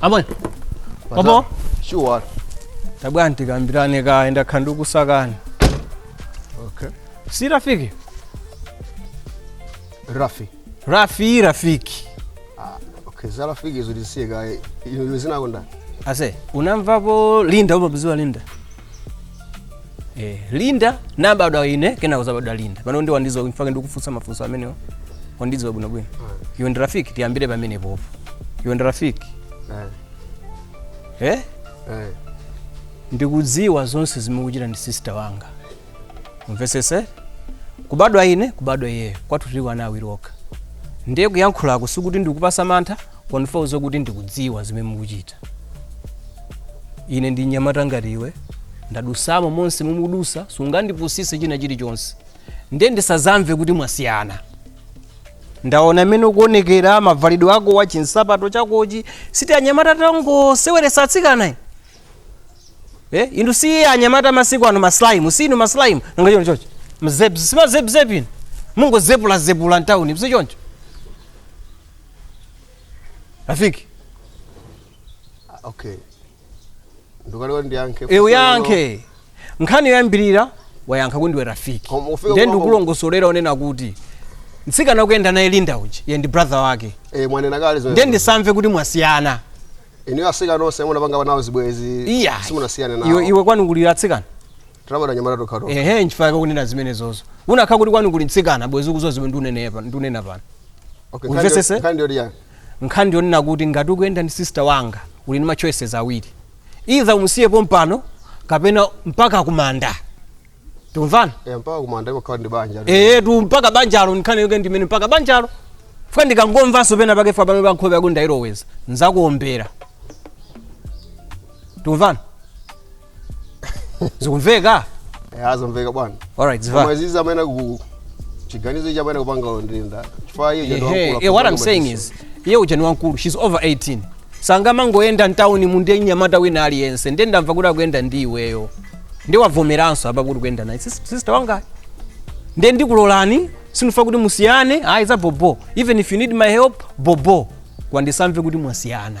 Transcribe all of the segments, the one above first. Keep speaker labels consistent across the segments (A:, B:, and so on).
A: amwe bobo?
B: Sure. tabwerani
A: tikambirane kaye ndakhala ndikusakani
B: Okay. si
A: rafiki Rafi. rafi rafiki Okay,
B: za rafiki izo tisiye kaye. Iwe dzina lako ndani? aise
A: unamvapo linda umamudziwa linda eh, linda nabadwa ine kena kuzabadwa linda pano ndi wandidziwa nchifukwa chake ndikufunsa mafunso amenewo wandidziwa bwino bwino iwe ndi rafiki tiyambire pamenepopo iwe ndi rafiki eh ndikudziwa zonse zimene mukuchita ndi sister wanga umvesese kubadwa ine kubadwa iyeyo kwathu tili wana awiri okha ndiye kuyankhulako sikuti ndikupasa mantha koma ndifuna udziwe kuti ndikudziwa zimene mukuchita ine ndi mnyamata ngati iwe ndadusamo monse momwe mukudusa sungandipusise china chilichonse nde ndisazamve kuti mwasiyana ndaona mmene ukuonekera mavalidwe akowa chinsapato chakochi si tianyamata tongoseweresa atsikana eh? eh? inu si anyamata masiku ano maslaimu si inu maslaimu nanga choncho choncho mzep si mazepzep inu mungozepulazepula mtauni si choncho Rafiki,
B: Ah, okay ndukale kuti ndiyankhe e
A: uyankhe. Nkhani yoyambirira wayankha kuti ndiwe Rafiki. Koma ufika Ndiye kwa- ndikulongosolera kunena kuti mtsikana ukuyenda naye Linda uja, ine ndi brother wake. e mwanena kale zimene-
B: Ndiye ndisamve
A: kuti mwasiyana. inuyo
B: atsikana onse munapanga nawo zibwezi Iya. simunasiyane nawo Iwe iwe kwanu kuliko atsikana.
A: Tinabadwa
B: anyamata tokha tokha. ehe nchifukwa chake ukunena
A: zimenezozo unakakhala kuti kwanu kuli mtsikana bwezi ukuziwa zimene ndunene pa- ndunena pano Okay,
B: Umvetsese? nkhani- nkhani yoti yani?
A: nkhani yonena kuti ngati ukuyenda ndi sister wanga uli ndi ma choices awiri either umusiye pompano kapena mpaka kumanda tikumvana Eh, mpaka
B: kumanda imakhala ndi banja. ehetu mpaka
A: banjalo nkhani yake ndi imeneyo mpaka banjalo chifukwa ndikangomvanso pena pake chifukwa pamenepa nkhope yako ndayiloweza nzakuombera tikumvana zikumveka Eh,
B: zamveka bwana alright ziva koma
A: izizi amene
B: ku chiganizo ichi amene akupanga ndi Linda chifukwa iye uja ndi Ehe, wankulu eh, what I'm akufuna saying machiso.
A: is iye uja ni wankulu she's over 18 sangamangoyenda mtawuni mu ndi mnyamata wina aliyense ndiye ndamva kuti akuyenda ndi iweyo ndiye wavomeranso apa kuti ukuyenda naye Sis- sister wanga ndiye ndikulolani sindifuna kuti musiyane ayi za bobo even if you need my help bobo koma ndisamve kuti mwasiyana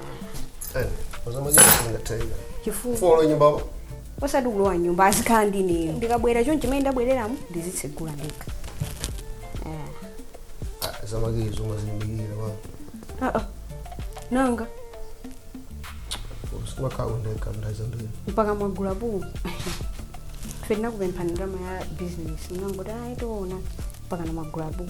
B: chifukwa nyumba osati
C: kulowa nyumba azikhala ndi ineyo ndikabwera chonchi mmene ndabwereramu ndizitsegula ndekha
B: Ah, za makiyi zomwe zilimbikira wa ah, ah. nanga simakhawo ndeka ndaza mbiri mpaka mwagula buu
C: ife tinakupemphani ndalama ya bizinesi munangoti ayi tiona mpakana mwagula buu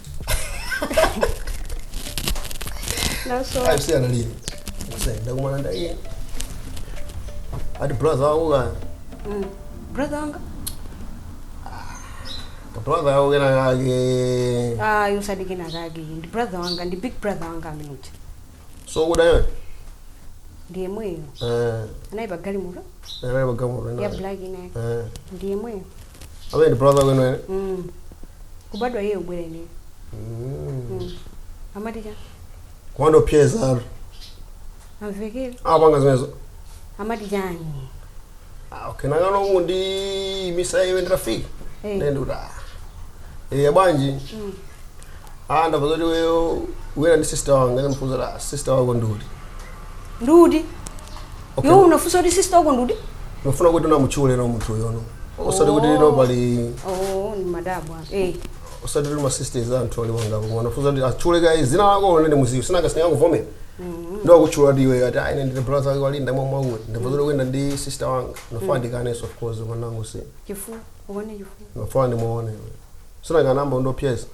B: Naso. ayi si analira kusenda kumana ndaye ati brother wako kaya Mm.
C: Brother
B: wanga? ka brother wako kena kake Ah, yosadziwika
C: kake. Ndi brother wanga, ndi big brother wanga ameneuja.
B: sokuda iwe
C: ndi yemweyo eh anali pa galimoto anali pa galimoto ya
B: ena black ina yake eh
C: ndi yemweyo amene ndi brother
B: wenu eni
C: Mm.
B: kubadwa iye kubwera ineyo
C: Mm. amati cha kumandiopseza
B: ati
C: amvekere apanga zimenezo
B: amati
C: chani
B: Ah, okay nangano mundimitsa iwe nditafika Eh. ndi ndikuti ah eh bwanji ah ndamva zoti iweyo uyenda ndi sister wanga ndimufunsa kuti sister wako ndi uti ndi uti Okay. iwe unafunsa kuti
C: sister wako ndi uti ndifuna kuti
B: amutchule no munthu uyo no osati kuti no pali oh ndimadabwa
C: eh osati
B: tuli masisters anthu ali wangapo koma ndafuna kuti atchule kaye zina lako kuti ndimudziwe sinanga sinangakuvomera ndiye akutchula kuti iwe ati ayi ndine brother wake wa Linda mwakuti mwakuti ndamva zoti kuyenda ndi sister wanga ndimafuna ndikanenso of course umanango si chifukwa uone
C: chifukwa ndimafuna
B: ndimuone iwe si anakayamba kundiopseza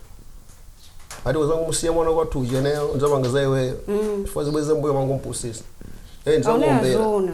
B: ati uzangomusiya mwana kwathu ujeneyo nzapanga za iweyo chifukwa uzibweze mbuyo umangomupusitsa ee aone ndizakuombera
C: azoona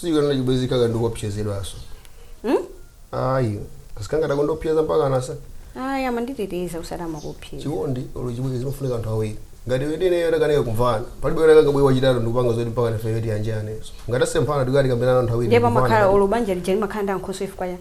B: sikanena chibwezi kaka ndikuopsezedwanso ayi asikana atakundiopseza mpaka anasa ayi amanditeteza
C: osati amakuopseza chikondi olo
B: chibwezi zimafunika anthu awiri ngati aweniwo atakanika kumvana palibe kuti angabwere wachitatu ndikupanga zoti mpaka nafe yoti yanjane ngati asemphana tikakambirane anthu awiri ndiye pamakhala ndikupanga. olo banja
C: lija limakhala ndi ankhoswe chifukwa chani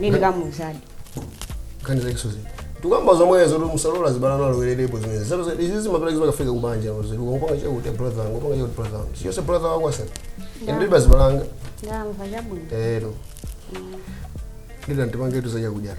C: Nini kama uzadi. Kani
B: zake sozi. Tukamba zomwezo tu msalola zibana nalo welele ipo zimene. Zero zero izi zimapeleka zimaka fika kubanja mzee. Ngopanga cha kuti brother, ngopanga cha kuti brother. Sio se brother wako asa. Ndi basi balanga.
C: Ndamva jabu. Eh do.
B: Ndida ntipange tu zaja kujana.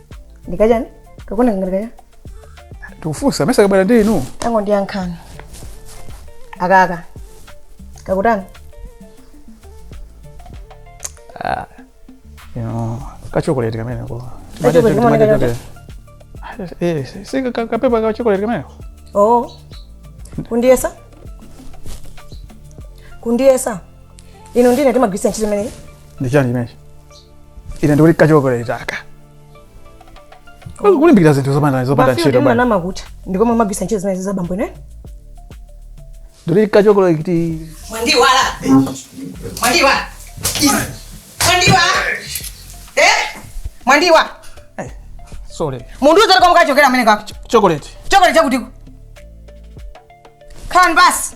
C: ndikachani kakuoneka ngati kachani tikufunsa
A: ndimesa kabwera ndi inu tangondiyankhani
C: aka ka kakutani
A: ino kachokoleti kameneko Kachokoleti kamene kachote? Eh, si- si ka- kapepa kachokoleti kameneko kundiyesa
C: kundiyesa inu ndine timagwiritsa ntchito imeneyi ndi chani chimenechi
A: ine ndikuti kachokoleti aka kulimbikira zinthu zopanda zopanda ntchito bwana amanama kuti ndi
C: komwe amagwiritsa ntchito zimenezi abambo ine
A: ndikuti kachokoleti mwandiiwala
D: mwandiwa mwandiwa eh
A: mwandiwa sorry mundiuza kuti
D: komwe kachokera kameneka ko chocolate
A: chocolate chakutiko
D: khalani basi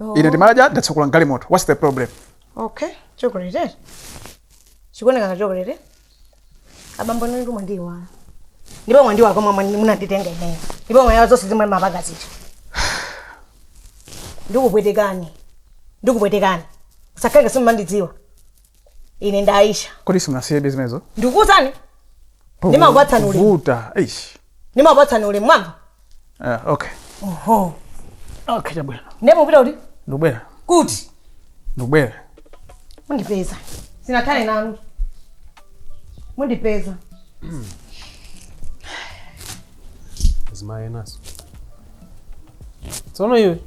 A: Oh. ine ndimadya ndatsekula mgalimoto whats the problem okay chocolate
D: eh? chikuoneka ngati chocolate eh? abambo inu ndithu mwandiiwala ndipo mwaiwala komwe mwandi- munanditenga ineyo ndipo mwaiwala zonse zimene mumapanga zija ndikupwetekani ndikupwetekani musakhale ngati simumandidziwa ine ndi aisha kodi simunasiyebe
E: zimenezo
D: ndikuuzani ndimakupatsani ulemu vuta
E: eish ndimakupatsani ulemu
D: mwamva Ah, okay
E: oho
D: okay
E: chabwino ndiye mupita kuti
D: ndikubwera kuti ndikubwera mundipeza sinakhale nanu
F: mundipeza zimayenaso tsono iwe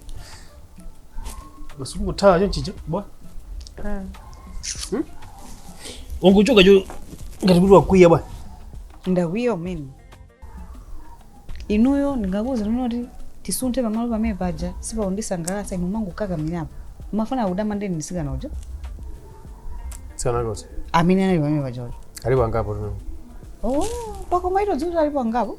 F: masuku kuthawa chonchicha bwa unguchoka cho ngati kuti wakwiya bwa ndakwiya
G: umene inuyo ndimakuuzani kuti tisunthe pamalo pamene paja sipakundisangalatsa inu mangokakamirapo mafuna kudama ndeni ndisikana
F: uja mtsikana woti amene anali pamene paja
G: uja alipo angapo tuno
F: oh
G: pakoma eti sikuti alipo angapo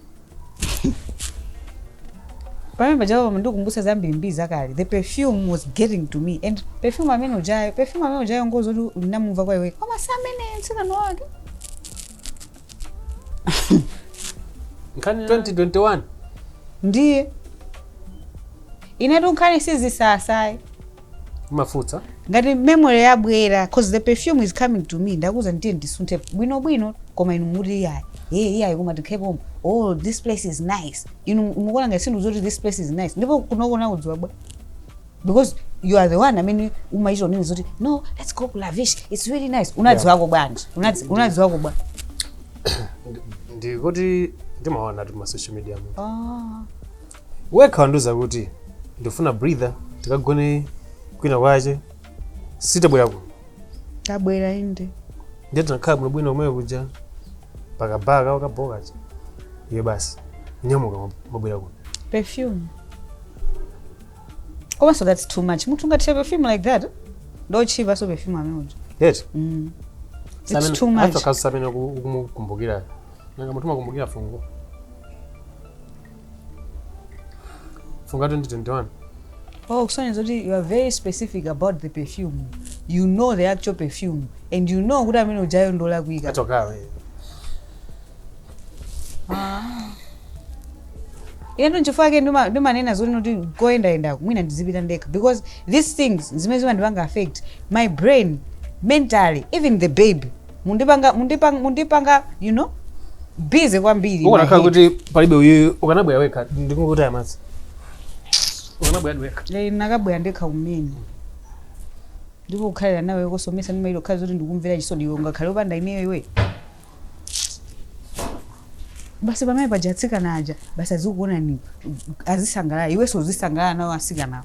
G: pamene paja pamandikumbutsa zambiri mbiri zakale the perfume was getting to me and perfume amene ujayo perfume amene ujayo ngozoti ndinamumva kwa iwe koma si amene mtsikana
F: wake nkhani 2021 ndiye
G: inetu nkhani sizisasayi
F: Umafunsa. Ngati
G: memory yabwera coz the perfume is coming to me ndakuuzani tiyeni tisunthe bwino bwino koma inu mukuti iyayi ee iyayi koma tikhale pomwe oo this place is nice inu mukuona ngati sindikudziwa kuti this place is nice ndipo kunoko unakudziwa bwa because you are the one amene umachito kunena zoti no let's go ku lavish it's really nice unadziwako bwanji Unadzi- unadziwako bwa Ndi- Ndikuti
F: ndimaona tu ma social media mu. Ah. wekha wandiuza kuti ndifuna breather tikagone kwina kwache sitabwera
G: kuno tabwera inde ndiye tinakhala
F: bwinobwino kumene kuja pakabaa kawo kabokacha iye basi nyamuka mabwera kuno
G: perfume komanso that's too much munthu ungathire perfume like that ndi yotchipa so perfume amene uja yet mm. it's too much n'kuona
F: amene ukumukumbukira nanga munthu umakumbukira fungo fungo 2021 Oh,
G: kusonyeza zoti you are very specific about the perfume you know the actual perfume and you know kuti amene ujayo ndolakwika atokawe ino nchifukwa yake ndima- ndimanena zoti kuti koyendayendako mwina ndizipita ndekha because these things zimandi zimandipanga affect my brain mentally even the baby mundipanga mundipanga mundipanga you know busy kwambiri my ukanakhala head. kuti
F: palibe uyu ukanabwera wekha ndikungoti amadzi ukanabwera wekha Lero n'nakabwera ndekha kumene
G: ndipo kukhalira nawe kosowetsa ndi mailo khala kuti ndikumvera chisoni iwe ungakhale upanda ineyo iwe basi pamene paja atsikana aja basi azikuona ni azisangalala iwenso uzisangalala nawo asikanawo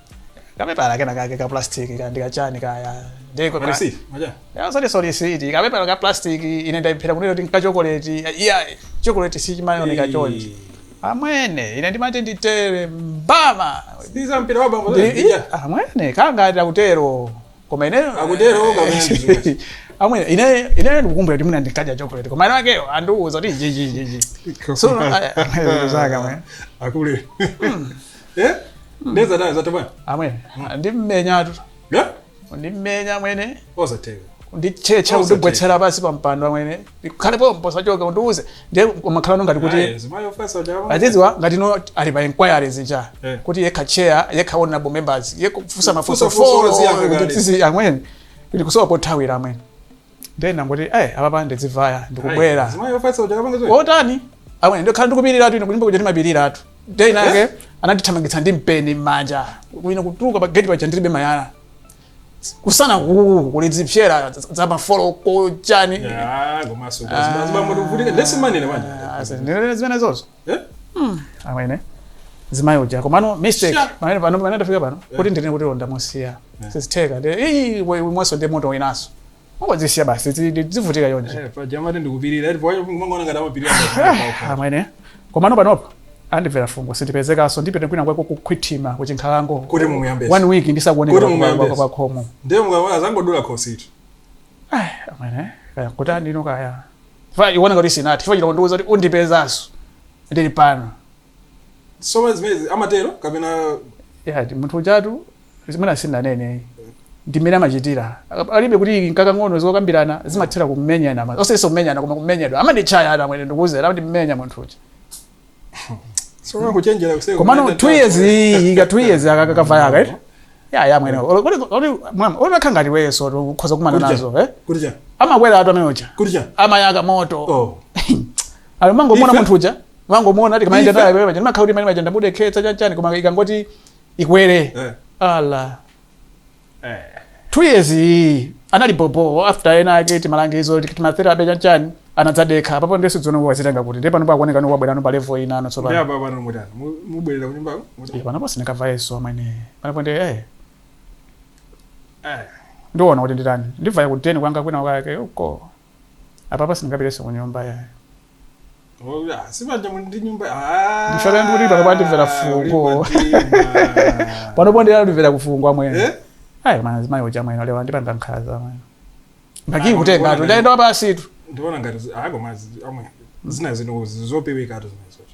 E: kapepala kena kake ka plastic ka ndikachani kaya ndiko Mali
B: safe, maja. yazoti
E: solisiti kapepala ka plastic ine ndaiphera kunena kuti nkachokoleti iya chokoleti sichimaoneka chonchi amwene ine ndimati nditere mbama Si za mpira
B: wa bambo Ndi- zake. iya, amwene
E: kangati akutero koma ine Akutero, koma
B: ine ndizimwa.
E: amwene ine ine ndikukumbukira kuti mwina ndikadya chokoleti koma ine wakeyo andiuza kuti ichichichichi so zaka mwe Akule.
B: Eh? Neza naye zatema.
E: Amwene. Ndimmenya tu.
B: Eh?
E: Ndimmenya amwene. Osatheka.
B: Ndichecha
E: kundigwetsera pansi pa mpando amwene. Ukhale pompo usachoke undiuze. Ndiye umakhala ngati kuti. Ayi, mzimayi ofatsa uja
B: wa. Aziziwa ngati
E: no ali pa inquiry zija. Eh. Kuti yekha chair, yekha honorable members, yekha kufusa mafuso Kufusa mafunso foro. ziyankha Kuti kale. tizi amwene. Ndikusowa pothawira amwene. ndiye ndangoti eh apapa ndizivaya ndikubwera zimayi ofatsa uja
B: kapanga zoyi otani
E: amwene ndikhala ndikupiriratu ine kunyumba kuja timapiriratu ndiye inake anandithamangitsa ndi mpeni m'manja ine kutuluka pa geti paja ndilibe mayala kusana kuku kuli zipsera za mafoloko chani ya komaso
H: zimamoto kuvutika ndese manene manje zimenezozo
E: Eh? Mm. Amwene. Mzimayi uja komano mistake. Sure. Pamene pano pamene ndafika pano yeah. kuti ndinene kuti oh ndamusiya. Yeah. Eh. Sizitheka. Eh, we we mwaso ndi moto winaso. Mungozisiya basi zivutika chonchi. Eh, paja amati ndi kupirira.
H: Ndipo wayo mumangoona ngati amapirira.
E: Amwene. Komano panopo andimvera fungo sindipezekaso ndipite kwina kwake kukhwithima kuchinkhalango kuti mumuyambesa one
H: week ndisakuoneka
E: kwa khomo ndiye mukaona zangodula
H: khositu
E: amwene kaya kuti andino kaya Chifukwa ikuoneka kuti sinathe. Chifukwa chiti wandiuza kuti undipezanso ndili pano. Nsomba
H: zimenezi amatero kapena Yeah, ndi munthu
E: ujatu zimene sinanene ndi mmene amachitira Aka- palibe kuti nkakang'ono zokambirana zimathera kumenyana ma- osenso kumenyana koma kumenyedwa amanditchayatu amwene ndikuuzera amandimenya munthu uja
H: so kama kuchenjera kusema komano unaenda 2
E: years iyi ka 2 years aka kakavaya aka eti ya ya mwene Olo- olo- olo- mwama olo unakhangati iweso ukhoza kumana Kuja. nazo eh kuja
H: amakweratu amene
E: uja kuja amayaka moto oh ali mumangomuona Ife- munthu uja mumangomuona ngati akamaenda Ife- tayo pamene ndimakhala kuti manje ndamudekhetsa chanchani koma ikangoti ikwere eh ala two years iyi anali bobo after ena ake timalangizo timatherapy chanchani anadzadekha apapo ndiye sindidziwano wazitenga kuti ndiye pano pakuoneka no wabwera no pa level inano tsopano ndiye apa pano
H: mutani Mu- mubwerera kunyumba Eh, panopo
E: sindikavayeso amwene panopo ndi eh ndiona kuti nditani ndibvaya ku deni kwanga kwina kwake uko apapa sindingapitenso kunyumba yayo Ola,
H: sibanja muli ndi nyumba Ah, Ndifala ndi kuti
E: pano andimvera fungo. uli pandima. panopo ndiye andimvera kufungo amwene Eh? ayi mzimayi uja amwene ale wandipanga nkhaza mwene mpaka Ah, kutenga wanakuona tu ndaenda wapasitu ndiona ngati zi- ako
H: mazi amwe zina zino zopewekatu zimenezoto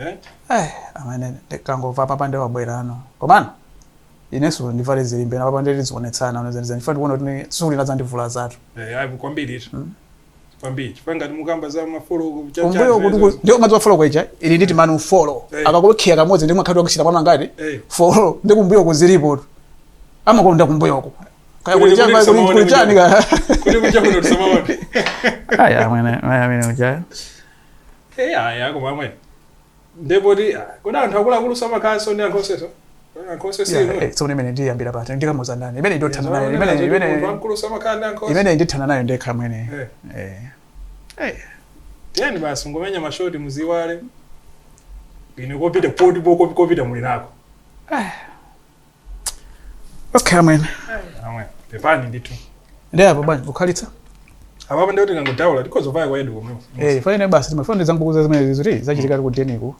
E: eh? eh, amene ndikangova papa nde wabwerano komano inenso ndivale zilimbe napapa ndetizionetsana onezaniza ndifuna kuona kuti tsiku lina zandivula zatu Eh, ayi, kwambiri ito Mm. kwambiri
H: chifukwa ngati mukamba za mafolo kumbuyo kuti
E: ndio madziwa folo kwaija ili nditi manu folo Eh. akakulokhiya kamodzi ndi mwakhati wakachita pano angati Eh. folo ndi kumbuyo kuzilipo tu amakonda kumbuyoko kaya Kuti- kuti kuti chamba kuti tisamaone kuti chani ka kuti
H: kuchakuno
E: tisamaone aya amene amene uja
H: eyaya koma amwene nde poti kodi anthu akuluakulu samakhalanso ndi ankhoswenso anthu onse si Yeah,
E: inu eh, tsono imene ndiyambira pati ndikamuza ndani imene ndothana nayo imene Zoti munthu imene wamkulu samakhala ndi anthu onse imene ndithana nayo ndekha amwene Eh. eh
H: eh tiyeni basi ngomenya mashoti muziwale ine kopita poti po- kopita muli nako
E: okay amwene amwe
H: pepani ndithu ndi apa
E: bwanji kukhalitsa apapo ndiye
H: kuti kangodaula tikhoza paya kwa edu komweko eh fane basi timafuna
E: ndizangokuuza zimene ziziti zachitika ku deniku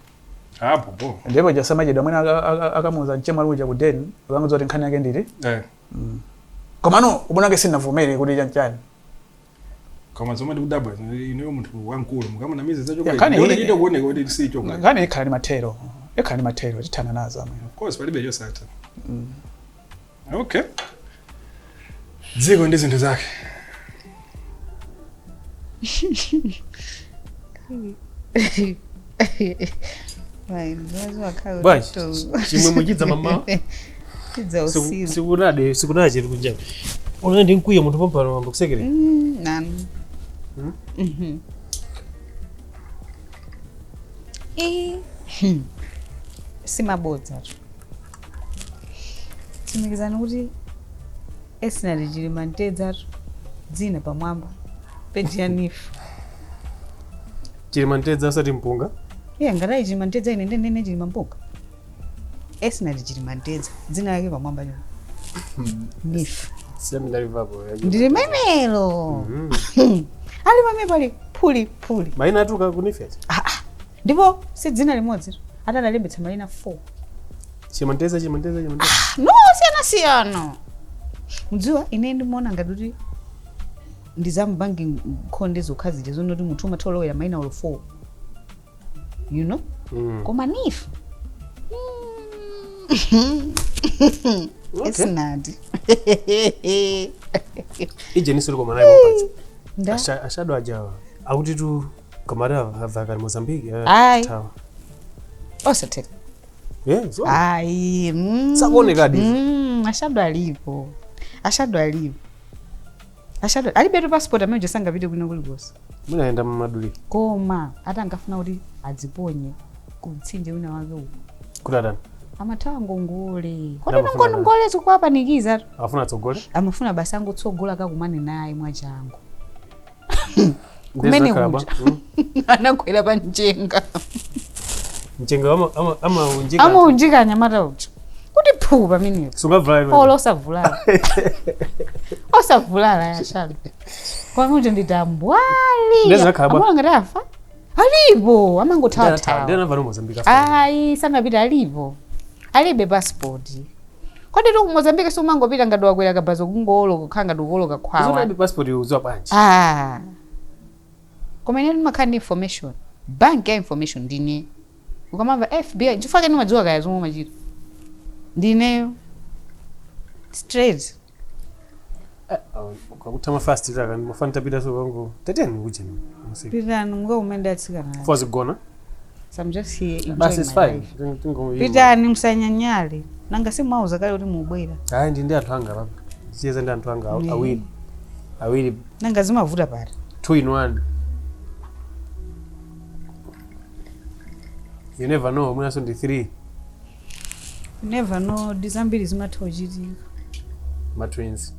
E: apo
H: bo ndipo chosamachedwa
E: amwene aka- aka- akamuza mchema luja ku deni ukanguza kuti nkhani yake ndili eh komano ubwana wake sinavomere kuti chanchani
H: koma zomwe ndikudabwa ineyo munthu wamkulu mukamanamiza za chokoleti Nkhani ndione iyi- chikuoneka kuti si chokoleti nkhani ikhala ndi mathero
E: ikhala ndi mathero tithana nazo amwene of course palibe chosatha
H: okay dziko ndi zinthu zake
F: bwanji chimwe muchidza mama sikunade sikunade chiri kunja unali ndi mkwiyo munthu pompano mambo kusekere nanu
G: Hmm? Mhm. Eh, hmm. si mabodzatu tsimikizani kuti Esinati Chilimamtedzatu dzina pamwamba paja nifu
F: chilima mtedza osati mpunga iye ngatayi
G: chilima mtedza ine nde ndine chilima mpunga esinati chilima mtedza dzina lake pamwamba chona ndife sindinalivapo ndi limenelo lili pamene pali phuli phuli maina atuluka ku nifu
F: eti
G: ndipo si dzina limodzi ati adalembetsa maina 4 chilima mtedza chilima mtedza chilima mtedza no siyanasiyana mudziwa ine ndimaona ngati kuti ndi za mabanki nkhonde zokha zija zoona kuti munthu umatha kulowera maina olo 4 you know Mm. koma nifu esinati
F: ijenisi liko mwanayi mupatsa nda Asha- ashado ajawa akutitu kamata avakali mozambique eh, Ayi.
G: tawa. osateka Yeah,
F: so- ayi mm.
G: Sakuonekadi.
F: Mm, ashado alipo
G: ashado alipo Ashadod alibetu passport amene uja sangapite kwina kulikonse. Mwina ayenda
F: mumaduli. Koma ati
G: ankafuna kuti adziponye ku mtsinje wina wake uko. Kuti atani? Amathawa ngongole. Kodi Amafuna atani? ngongole zikuwapanikiza? Afuna atsogole?
F: Amafuna basi angotsogola
G: kakumane naye mwachangu.
F: kumene Nde zakhala bwa. kuja Mm.
G: anagwera pa mchenga mchenga
F: ama- ama- amaunjika amaunjika anyamata uja
G: kuti phuu pamenepo sungavulale iwe. olo
F: osavulala
G: osavulala yashalo kwakuti ndi tambwali Nde zakhala bwa. amaona ngati afa alipo Ndata- amangothawa ndinamva ku Mozambique ayi sanapita alipo alibe pasipoti Koditu ku Mozambique siumangopita ngati wakwera kabaza kungowoloka kukhala ngati ukuwoloka Zoona khwawa. alibe passport iwe ukudziwa bwanji?
F: Ah.
G: Koma inetu ndimakhala ndi information. Bank ya information ndi ineyo. Ukamamva FBI nchifukwa chake ndimadziwa kaya zomwe umachita. Ndi ineyo. Straight.
F: kwakuti amafastira kani mafana tapita so pangu tatiyeni kuja masiku pitani
G: mukakumane atsikana aja. fozi gona
F: So I'm just
G: here enjoying basi is my fine life. Tingo-
F: tingo- pitani
G: musanyanyale nanga simwauza kale kuti mubwera hayi ndi ndi anthu
F: anga papa siyeza ndi anthu anga aw- Mm. awiri awiri nanga
G: zimavuta pati two in one
F: you never know mwinanso ndi three
G: never know ndi zambiri zimatha kuchitika
F: ma
A: twins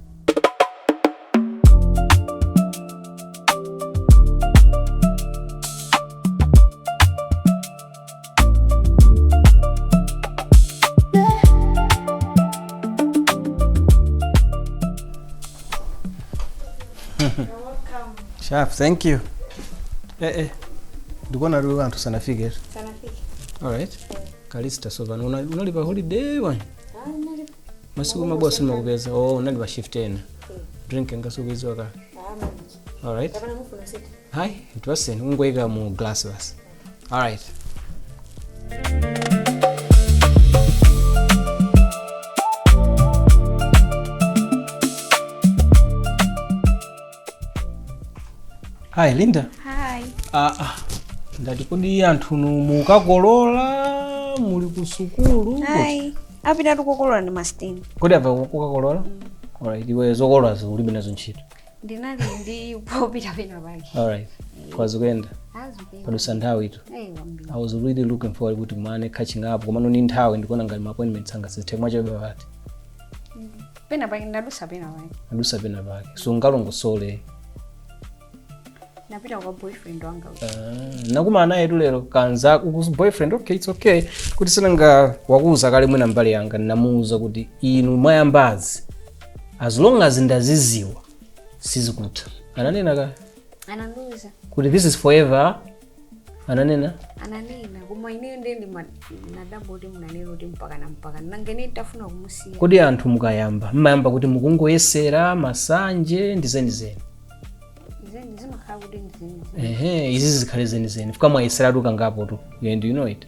A: Sharp, thank you. Eh eh. Ndikuona lero anthu sanafike. Sanafike. All right. kalista sopano una- unali pa holiday bwana Hayi, nali- masiku mabwa sindimakupeza oh unali pa shift ina drink yanga si ukuidziwa ka Ah, manje. alright Kapena mufuna usiti? hayi ndipatseni ungoyika mu glass basi alright Hi Linda. Hi.
C: Ah,
A: ah. Ndati kodi anthunu mukakolola muli ku sukulu? Hi.
C: Apitatu kokolola ndi masteni. Kodi apa kukakolola?
A: Alright, iwe zokololazo ulibe nazo ntchito. Ndinali
C: ndi popita pena pake. Alright.
A: Koma zikuyenda. Ah zikuyenda. Padutsa nthawitu. Eh, yambiri. I was really looking forward kuti tikumane catching up komano ndi nthawi ndikuona ngati ma appointments anga sizitheka chabe pati.
C: pena pake ndadusa pena pake
A: adusa pena pake sungalongosole ndapita
C: kwa boyfriend wanga uja. Ah, nakumana
A: nayetu lero kanzako kuti boyfriend okay it's okay kuti sinanga wakuuza kale mwina mbale wanga ndinamuuza kuti inu mwayambazi as long as ndaziziwa sizikutha ananena ka anandiuza
C: kuti this is
A: forever ananena
C: ananena koma ineyo ndiye ndimadabwa kuti munanena kuti mpaka kale mpaka nanga ine nditafuna kumusiya kodi anthu mukayamba
A: mmayamba kuti mukungoyesera masanje ndi zenizeni zeni zimakhala kuti ndizeni ehe izi zikhale zenizeni chifukwa mwayeseratu kangapotu and you know it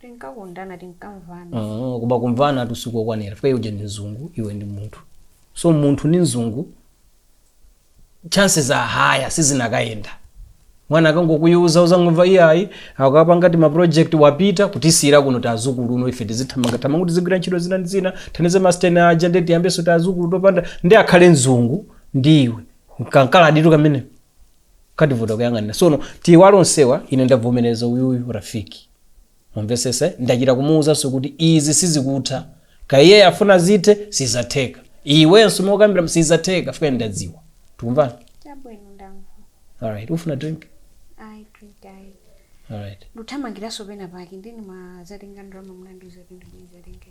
C: tinkakondana tinkamvana Mm, kuba kumvanatu
A: sikokwanira chifukwa uja ndi mzungu iwe ndi munthu so munthu ndi mzungu chances are higher sizinakayenda mwana akangokuuza uzangomva iyayi akapanga timaproject wapita kutisiyira kuno tazukulu kuno ife tizithamangathamanga kuti tizigwira ntchito zina ndi zina thandize masteni aja nde tiyambenso tazukulu topanda nde akhale mzungu ndi iwe kankaladitu kamene kativuta kuyang'anira sono tiiwale onsewa ine ndavomereza uyuyu rafiki mumvetsetse ndachita kumuuzanso kuti izi sizikutha kaya afuna zithe sizatheka iwenso mokambira sizatheka chifukwa ndadziwa tikumvana Chabwino ndamva. alright ufuna drink Ayi
C: drink ayi. alright
A: Nduthamangiranso pena
C: pake ndinangodzatenga ndalama munandiuza kuti ndibwenzerenge.